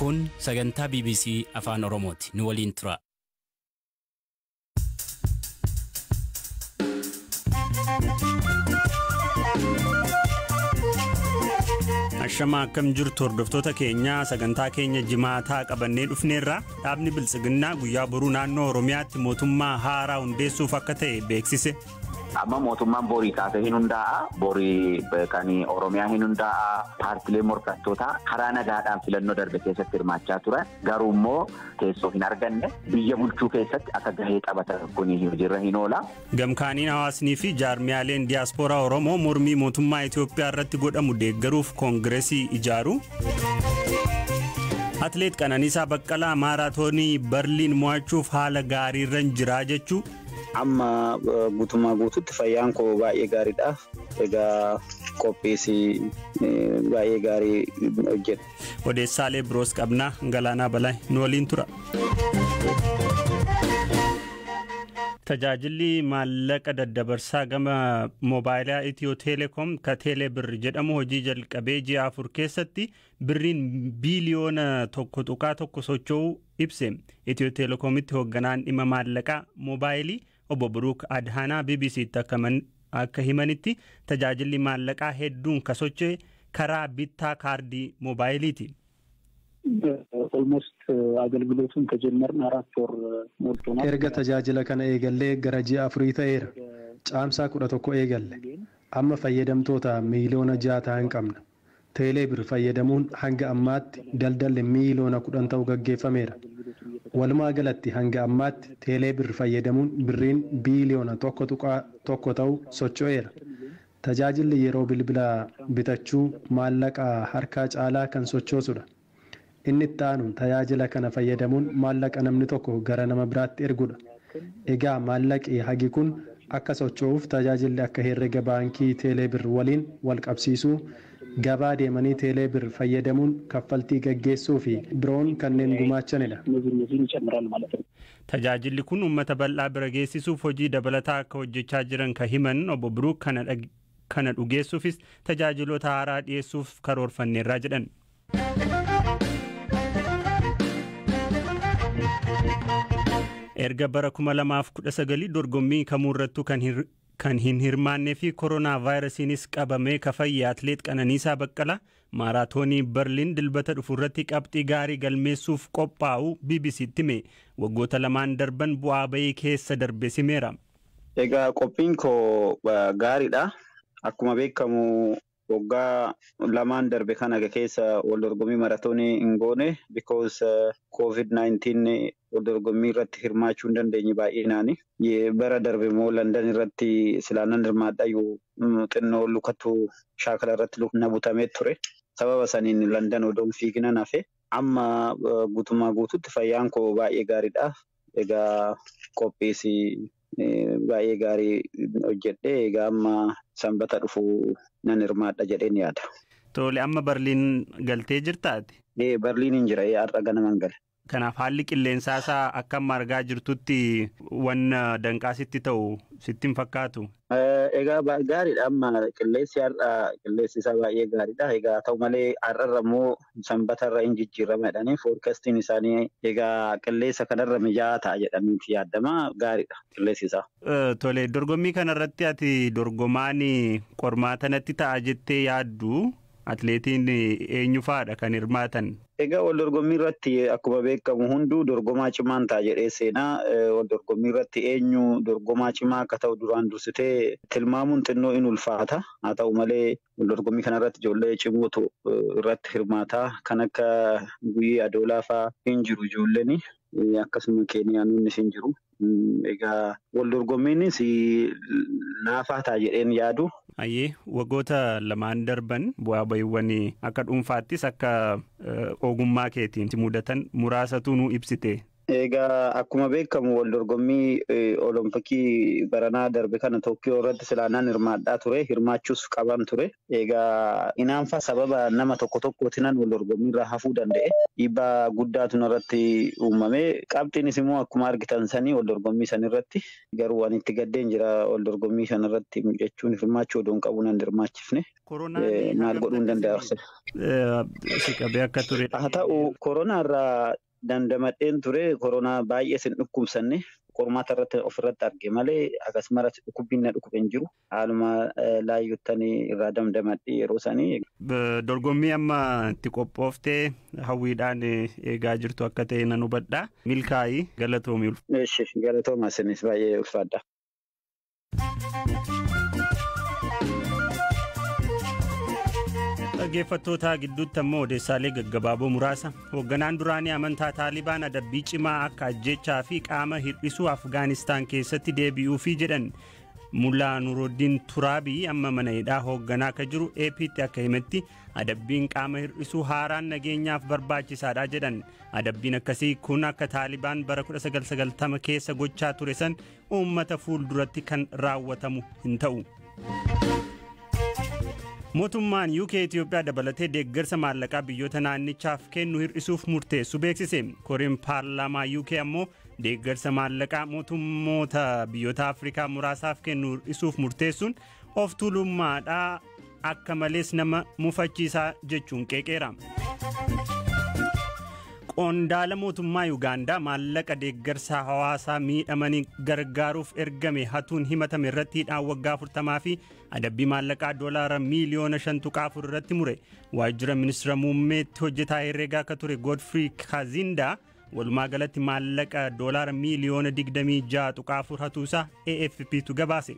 Kun sagantaa BBC Afaan Oromooti. Nu waliin turaa. Ashama akkam jirtu hordoftoota keenya sagantaa keenya jimaataa qabannee dhufneerra dhaabni biltsiginnaa guyyaa boruu naannoo Oromiyaatti mootummaa haaraa hundeessuuf akka ta'e beeksise. Amma mootummaan borii kaasee hin hundaa'a. Borii kan Oromiyaa hin hundaa'a. Paartilee morkattootaa karaa nagaadhaan filannoo darbe keessatti hirmaachaa turan garuu immoo teessoo hin arganne biyya bulchuu keessatti akka gahee taphatan kun hojiirra hin oola. Gamkaaniin hawaasnii fi jaarmiyaaleen diyaaspooraa Oromoo mormii mootummaa Itoophiyaa irratti godhamu deeggaruuf koongiresii ijaaru. Atileet Qananiisaa Baqqalaa maaraatoonii Barliin mo'achuuf haala gaariirran jiraa jechuu. Amma guutummaa guututti fayyaan koo baay'ee gaariidha. Egaa qophiis baay'ee gaarii hojjedha. Odeessaalee biroos qabna Galaanaa Balaay nu waliin tura. Tajaajilli maallaqa daddabarsaa gama moobaayilaa Itiyoo Teeleekoom ka Teelee Birr jedhamu hojii jalqabee ji'a afur keessatti birriin biiliyoona tokko tuqaa tokko socho'uu ibse. Itiyoo Teelekoomitti hoogganaan dhimma maallaqaa moobaayilii obbo Buruuk Adhaanaa BBC'tti akka himanitti, tajaajilli maallaqaa hedduun ka socho'e karaa bittaa kaardii moobaayiliiti. Erga tajaajila kana eegallee gara ji'a afurii ta'eera. Caamsaa 11 eegalle. Amma fayyadamtoota miiliyoona ja'a tahan qabna. Teeleebir fayyadamuun hanga ammaatti daldalli miiliyoona 10 ta'u gaggeeffameera. Walumaagalatti hanga ammaatti Teeleebir fayyadamuun birriin biiliyoona 1.1 ta'u socho'eera. Tajaajilli yeroo bilbila bitachuu maallaqa harkaa caalaa kan sochoosudha. Inni itti aanu tajaajila kana fayyadamuun maallaqa namni tokko gara nama biraatti ergudha. Egaa maallaqi hagi kun akka socho'uuf tajaajilli akka herrega baankii Teeleebir waliin walqabsiisuu, gabaa deemanii Teeleebir fayyadamuun kaffaltii gaggeessuu fi biroon kanneen gumaachanidha. Tajaajilli kun uummata bal'aa bira geessisuuf hojii dabalataa akka hojjechaa jiran ka himan Obbo Biruuk kana dhugeessuufis tajaajiloota haaraa dhiyeessuuf karoorfanneerra jedhan. Erga bara 2019 dorgommii kamuurrattuu kan hin kan hin hirmaannee fi koronaa vaayirasiinis qabamee ka fayye atleet Qananiisaa Baqqalaa maaraatoonii Berliin dilbata dhufu irratti qabxii gaarii galmeessuuf qophaa'u BBC'tti hime waggoota lamaan darban bu'aa bayii keessa darbe simeera. Egaa qophiin koo gaariidha. Akkuma beekamu Waggaa lamaan darbe kana keessa wal dorgommii maratoonii hin goone because covid 19 wal dorgommii irratti hirmaachuu hin dandeenye baay'inaani. Bara darbe immoo Landan irratti silaa nan hirmaadhayu xinnoo lukatu shaakala irratti na butamee ture. Sababa saniin Landan odoon fiiginan hafe. Amma guutummaa guututti fayyaan koo baay'ee gaariidha. Egaa qophiis baay'ee gaarii hojjedhe. Egaa amma sanbata dhufu nan hirmaadha jedheen yaada. Tole amma Barliin galtee jirta ati? Ee Barliin hin jira. Ee har'a ganaman gale. Kanaaf haalli qilleensaa isaa akka amma argaa jirtutti wan danqaa sitti ta'u sitti hin fakkaatu? Egaa gaariidha amma qilleensi har'a qilleensi isaa baay'ee gaariidha. Egaa ta'u malee har'arra immoo Sanbata irra in jijjiirama jedhanii forecastiin isaanii egaa qilleessa kanarra mijaa'aa ta'a jedhaniiti yaadama. Gaariidha qilleessi isaa. Tole dorgommii kanarratti ati dorgomaan qormaata natti ta'a jettee yaaddu atileetiin eenyu fa'aadha kan hirmaatan? Egaa wal dorgommii irratti akkuma beekamu hunduu dorgomaa cimaan ta'a jedhee seena. Wal dorgommii irratti eenyu dorgomaa cimaa akka ta'u duraan dursitee tilmaamuun xinnoo in ulfaata. Haa ta'u malee Waldorgommii kanarratti ijoollee cimootu irratti hirmaata. Kan akka Guyyee Adoolaa fa'aa hin jiru ijoolleen. Akkasuma Keeniyaanonnis hin jiru. Egaa waldorgommiinis laafaa ta'a jedheen yaadu. Ayyee waggoota lamaan darban bu'aa ba'iiwwan akka dhuunfaattis akka ogummaa keetiin si mudatan muraasatu nuu ibsite. Egaa akkuma beekamu wal dorgommii olompikii baranaa darbe kana Tookkiyoo irratti silaa nan hirmaadhaa ture hirmaachuus qaban ture. Egaa inaanfa sababa nama tokko tokkootinan wal dorgommii irraa hafuu danda'e dhiibbaa guddaatu narratti uumame qabxiinis immoo akkuma argitan sanii wal dorgommii san irratti garuu ani itti gaddeen jira wal dorgommii san irratti jechuun hirmaachuu odoon qabu nan hirmaachifne maal godhuun danda'a. Si qabee akka ture. Haa ta'u koronaa irraa Dandamadheen ture koronaa baay'ees hin dhukkubsanne qormaata irratti ofirratti arge malee akkasumas dhukkubbiin na dhukube hin jiru haaluma laayyottan irraa damdamadhe yeroo sanii. Dorgommii amma itti qophooftee hawwiidhaan eegaa jirtu akka ta'e nan hubadha milkaa'i galatoomi. Eshi galatooma isinis baay'ee ulfaadha. dhaggeeffattootaa gidduutti ammoo odeessaalee gaggabaaboo muraasa hoogganaan duraanii amantaa taalibaan adabbii cimaa akka ajjechaa fi qaama hir'isuu afgaanistaan keessatti deebi'uu fi jedhan mulaa nuruddin turaabii amma mana hidhaa hoogganaa akka jiru APtti akka himetti adabbiin qaama hir'isuu haaraan nageenyaaf barbaachisaadha jedhan adabbiin akkasii kun akka taalibaan bara 1990 keessa gochaa ture san uummata fuulduratti kan raawwatamu hin ta'u. Mootummaan UK Itoophiyaa dabalatee deeggarsa maallaqaa biyyoota naannichaaf kennu hir'isuuf murteessu beeksise. Koreen paarlaamaa UK ammoo deeggarsa maallaqaa mootummoota biyyoota Afrikaa muraasaaf kennu hir'isuuf murteessuun Of tuulummaadha akka malees nama mufachiisaa jechuun qeeqeera. Qondaala mootummaa Yuugaandaa maallaqa deeggarsa hawaasaa miidhamanii gargaaruuf ergame hatuun himatame irratti hidhaan waggaa 40 fi adabbii maallaqaa doolaara miiliyoona 5.4 irratti mure. Waajjira ministira muummeetti hojjetaa herreegaa akka ture Godfrey Kazindaa Walumaa galatti maallaqa doolaara miiliyoona 26.4 hatuu isaa AFPtu gabaase.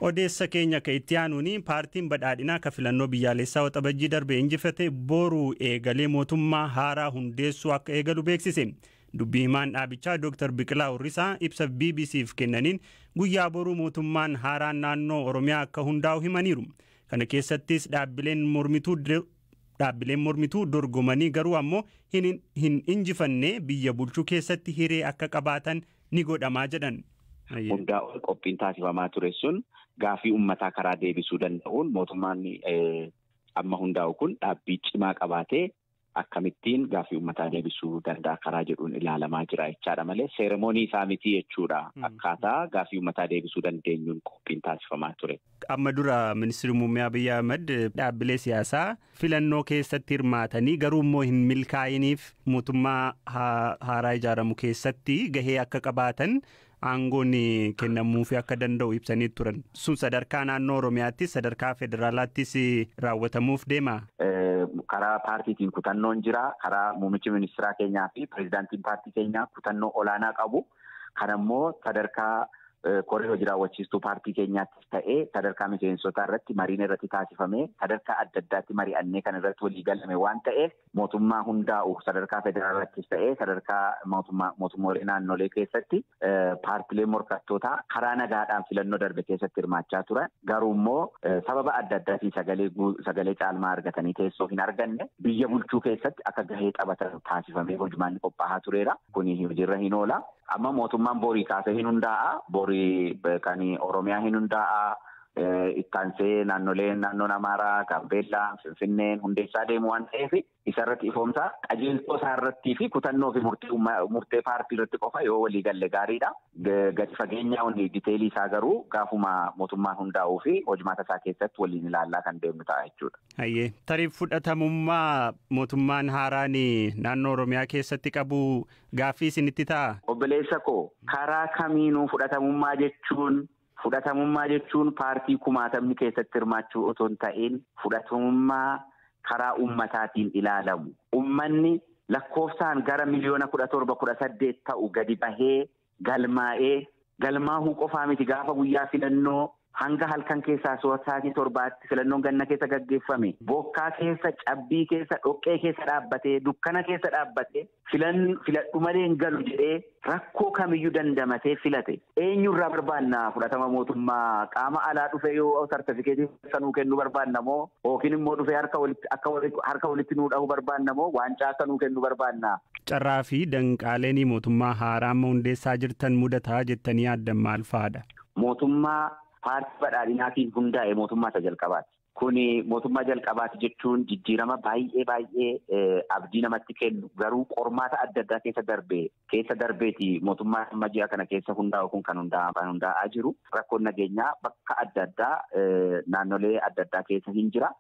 Odeessa keenya akka itti aanuun paartiin badhaadhinaa akka filannoo biyyaalessaa waxabajjii darbe injifate boru eegalee mootummaa haaraa hundeessuu akka eegalu beeksise. Dubbii himaan dhaabichaa Dr. Biqilaa Urrisaa ibsa BBC'f kennaniin guyyaa boruu mootummaan haaraan naannoo Oromiyaa akka hundaa'u himaniiru. Kana keessattis dhaabbileen mormituu dhaabbileen mormituu dorgomanii garuu ammoo hin, hin injifanne biyya bulchuu keessatti hiree akka qabaatan ni godhamaa jedhan. Hundaa ol qophiin taasifamaa ture sun gaafii ummataa karaa deebisuu danda'uun mootummaan amma hundaa'u kun dhaabbii cimaa qabaatee akkamittiin gaaffii uummataa deebisuu danda'a karaa jedhuun ilaalamaa jira jechaadha malee seeremoonii isaa miti jechuudha akkaataa gaaffii uummataa deebisuu dandeenyuun qophiin taasifamaa ture. Amma dura ministeerri muummee Abiy Ahmed dhaabbilee siyaasaa filannoo keessatti hirmaatanii garuu immoo hin milkaa'iniif mootummaa haaraa ijaaramu keessatti gahee akka qabaatan aangoon kennamuufii akka danda'u ibsanii turan. Sun sadarkaa naannoo Oromiyaattis sadarkaa federaalaattis raawwatamuuf deema. Karaa paartiitiin kutannoon jira. Karaa muummichi ministeeraa keenyaa fi pireezidaantiin paartii keenyaa kutannoo olaanaa qabu. Kanammoo sadarkaa koree hojii raawwachiistuu paartii keenyaattis ta'ee sadarkaa miseensotaa irratti mariin irratti taasifamee sadarkaa adda addaatti mari'annee kan irratti walii galame waan ta'eef mootummaa hundaa'u sadarkaa federaalaattis ta'ee sadarkaa mootummoolee naannolee keessatti paartilee morkattootaa karaa nagaadhaan filannoo darbe keessatti hirmaachaa turan garuu immoo sababa adda addaatiin sagalee sagalee caalmaa argatanii teessoo hin arganne biyya bulchuu keessatti akka gahee taphatan taasifamee hojmaanni qophaa'aa tureera kuni hojiirra hin oola amma mootummaan borii kaasee hin hundaa'a borii kan oromiyaa hin hundaa'a. Itti aansee naannoleen naannoon Amaaraa, Gaambeellaa, Finfinneen hundeessaa deemu waan ta'eef isa irratti ifoomsaa qajeeltoo isaa irrattii fi kutannoo fi murtee paartii irratti qofa yoo walii galle gaariidha. Gadi fageenyaa diteelii isaa garuu gaafuma mootummaan hundaa'uu fi hojmaata isaa keessatti waliin ilaallaa kan deemnu ta'a jechuudha. Hayyee tarii fudhatamummaa mootummaan haaraan naannoo Oromiyaa keessatti qabu gaaffii isinitti ta'a? Obboleessa koo karaa kamiinuu fudhatamummaa jechuun Fudhatamummaa jechuun paartii kumaatamni keessatti hirmaachuu otoo hin ta'iin fudhatamummaa karaa ummataatiin ilaalamu. Ummanni lakkoofsaan gara miliyoona 17, 18 ta'u gadi bahee galmaa'ee galmaahuu qofaa miti gaafa guyyaa filannoo hanga halkan keessaa sa'aatii torbaatti filannoon ganna keessa gaggeeffame bokkaa keessa, cabbii keessa, dhoqqee keessa dhaabbatee, dukkana keessa dhaabbatee Filan filadhu malee hin galu jedhee rakkoo kamiyyuu dandamatee filate eenyurraa barbaanna fudhatama mootummaa qaama alaa dhufee yoo sartifikeetii keessa nuu kennu barbaanna moo yookiin immoo dhufee harka walitti akka harka walitti nuu dhahu barbaanna moo waancaa akka nuu kennu barbaanna. Carraa fi danqaaleen mootummaa haaraa amma hundeessaa jirtan mudataa jettanii yaaddan maal fa'aadha? Mootummaa paartii badhaadhinaatiin hundaa'e mootummaa isa jalqabaati. Kun mootummaa jalqabaati jechuun jijjiirama baay'ee baay'ee abdii namatti kennu garuu qormaata adda addaa keessa darbe keessa darbeeti mootummaa amma ji'a kana keessa hundaa'u kun kan hundaa'aa jiru rakkoon nageenyaa bakka adda addaa naannolee adda addaa keessa hin jira.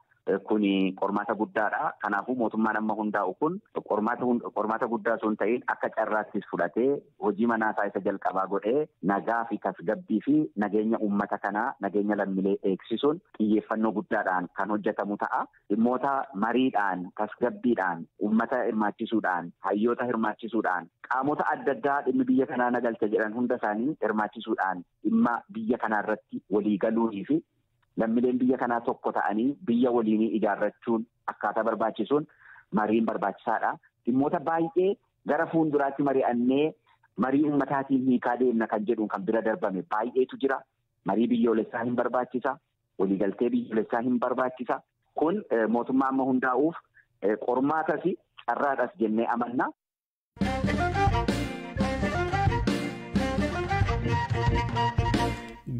Kun qormaata guddaadha. Kanaafuu mootummaan amma hundaa'u kun qormaata guddaa osoo hin ta'in akka carraattis fudhatee hojii manaasaa isa jalqabaa godhee nagaa fi tasgabbii fi nageenya uummata kanaa nageenya lammilee eegsisuun xiyyeeffannoo guddaadhaan kan hojjetamu ta'a. Dhimmoota mariidhaan, tasgabbiidhaan, uummata hirmaachisuudhaan, hayyoota hirmaachisuudhaan, qaamota adda addaa dhimmi biyya kanaa na galcha jedhan hunda isaanii hirmaachisuudhaan dhimma biyya kanaa irratti walii galuunii fi lammileen biyya kanaa tokko ta'anii biyya waliinii ijaarrachuun akkaataa barbaachisuun mariin barbaachisaadha. Dhimmoota baay'ee gara fuulduraatti mari'annee marii uummataatiin hiikaa deemna kan jedhuun kan bira darbame baay'eetu jira. Marii biyyoolessaa hin barbaachisa. Waliigaltee biyyoolessaa hin barbaachisa. Kun mootummaa amma hundaa'uuf qormaatas carraadhas jennee amanna.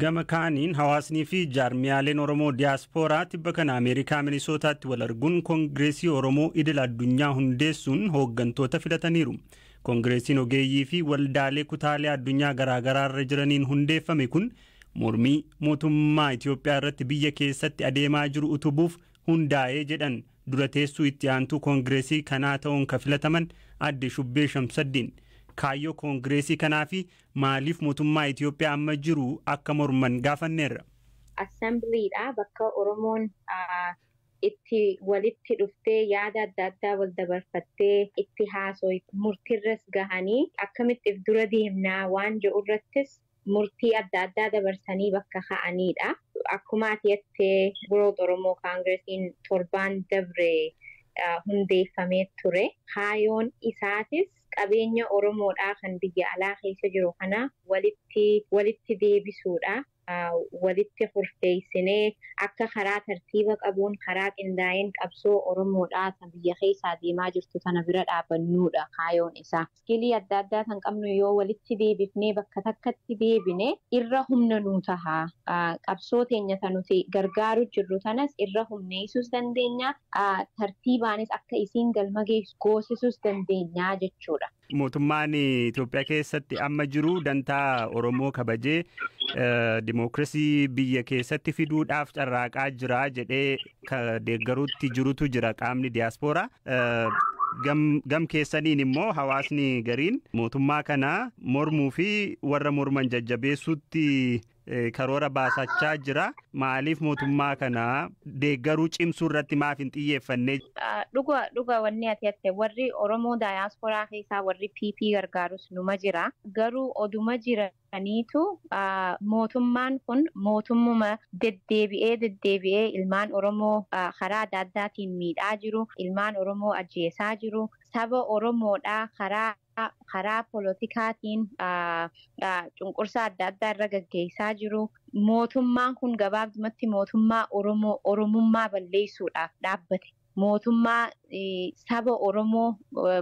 Gama kaaniin hawaasnii fi jaarmiyaaleen Oromoo diyaaspooraa tibba kana Ameerikaa Minisootaatti wal arguun Kongireesii Oromoo idil addunyaa hundeessuun hooggantoota filataniiru. Kongireesiin ogeeyyii fi waldaalee kutaalee addunyaa garaagaraa irra jiraniin hundeeffame kun mormii mootummaa Itiyoophiyaa irratti biyya keessatti adeemaa jiru utubuuf hundaa'e jedhan dura teessuu itti aantuu kongireesii kanaa ta'uun ka filataman adde Shubbee Shamsaddiin. Kaayyoo kongireesii kanaa fi maaliif mootummaa Itiyoophiyaa amma jiru akka morman gaafanneerra. Assembliidha bakka Oromoon itti walitti dhuftee yaada adda addaa wal dabarfattee itti haasooyte. Murtiirras gahanii akkamitti if dura deemna waan je'urrattis murtii adda addaa dabarsanii bakka ka'aniidha. Akkuma ati jette Growth Oromo Kaangiresiin torbaan dabre hundeeffamee ture. Kaayoon isaatis qabeenya Oromoodhaa kan biyya alaa keessa jiru kana walitti walitti deebisuudha. walitti kurfeessinee akka karaa tartiiba qabuun, karaa qindaa'een qabsoo Oromoodhaa tan biyya keessaa deemaa jirtu tana bira dhaabannuudha kaayoon isaa. Iskilii adda addaa tan qabnu yoo walitti deebifnee bakka takkatti deebine irra humna nuu taha. Qabsoo teenya ta nuti gargaaru jirru tanas irra humneessuus dandeenya, tartiibaanis akka isiin galma geessu goosisuus dandeenya jechuudha. Mootummaan Itoophiyaa keessatti amma jiru dantaa Oromoo kabajee dimookirasii biyya keessatti fiduudhaaf carraaqaa jira jedhee deeggaruutti jirutu jira qaamni diyaaspooraa. Gam keessaniin immoo hawaasni gariin mootummaa kana mormuu fi warra morman jajjabeessuutti karoora baasachaa jira. Maaliif mootummaa kana deeggaruu cimsuu irratti maaf hin xiyyeeffanne? Dhuga dhuga wanni ati hatte warri Oromoo diaspora keessaa warri PP gargaarus numa jira. Garuu oduma jiraniitu mootummaan kun mootummuma deddeebi'ee deddeebi'ee ilmaan Oromoo karaa adda addaatiin miidhaa jiru, ilmaan Oromoo ajjeesaa jiru, saba Oromoodhaa karaa karaa polotikaatiin cunqursaa adda addaa irra gaggeessaa jiru. Mootummaan kun gabaabdumatti mootummaa Oromoo Oromummaa balleessuudhaaf dhaabbate, mootummaa saba Oromoo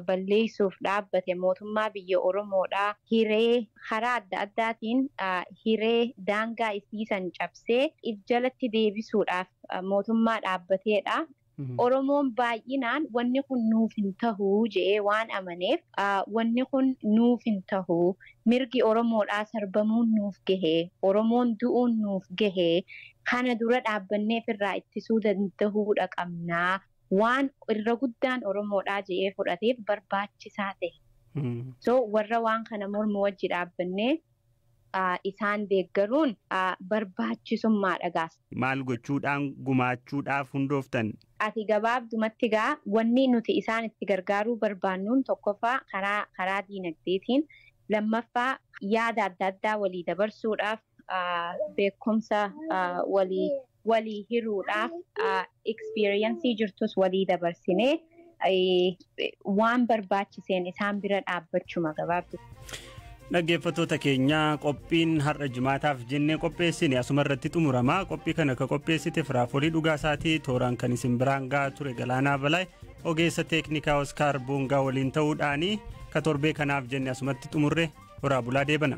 balleessuuf dhaabbate, mootummaa biyya Oromoodhaa hiree karaa adda addaatiin hiree daangaa isii san cabsee if jalatti deebisuudhaaf mootummaa dhaabbateedha. Oromoon baay'inaan wanni kun nuuf hin tahu je'ee waan amaneef, wanni kun nuuf hin tahu, mirgi Oromoodhaa sarbamuun nuuf gahe, Oromoon du'uun nuuf gahe, kana dura dhaabbannee ifirraa ittisuu dandahuudha qabna, waan irra guddaan Oromoodhaa je'ee fudhateef barbaachisaa tahe. So, warra waan kana mormu wajji dhaabbannee. isaan deeggaruun barbaachisummaadha gaa. Maal gochuudhaan gumaachuudhaaf hundooftan? Ati gabaabdumatti gaa wanni nuti isaan itti gargaaruu barbaannuun tokkoffaa karaa karaa diinagdeetiin, lammaffaa yaada adda addaa walii dabarsuudhaaf, beekumsa walii walii hiruudhaaf experience jirtus walii dabarsinee waan barbaachiseen isaan bira dhaabbachuma gabaabdu. Dhaggeeffattoota keenya qophiin har'a jimaataaf jennee qopheessine asuma irratti xumurama. Qophii kana akka qopheessite firaafolii dhugaa isaatii tooraan kan isin biraan gahaa ture Galaanaa Balaay ogeessa teeknikaa Oskaar Boongaa waliin ta'uudhaanii ka torbee kanaaf jenne asumatti xumurre horaa bulaa deebana.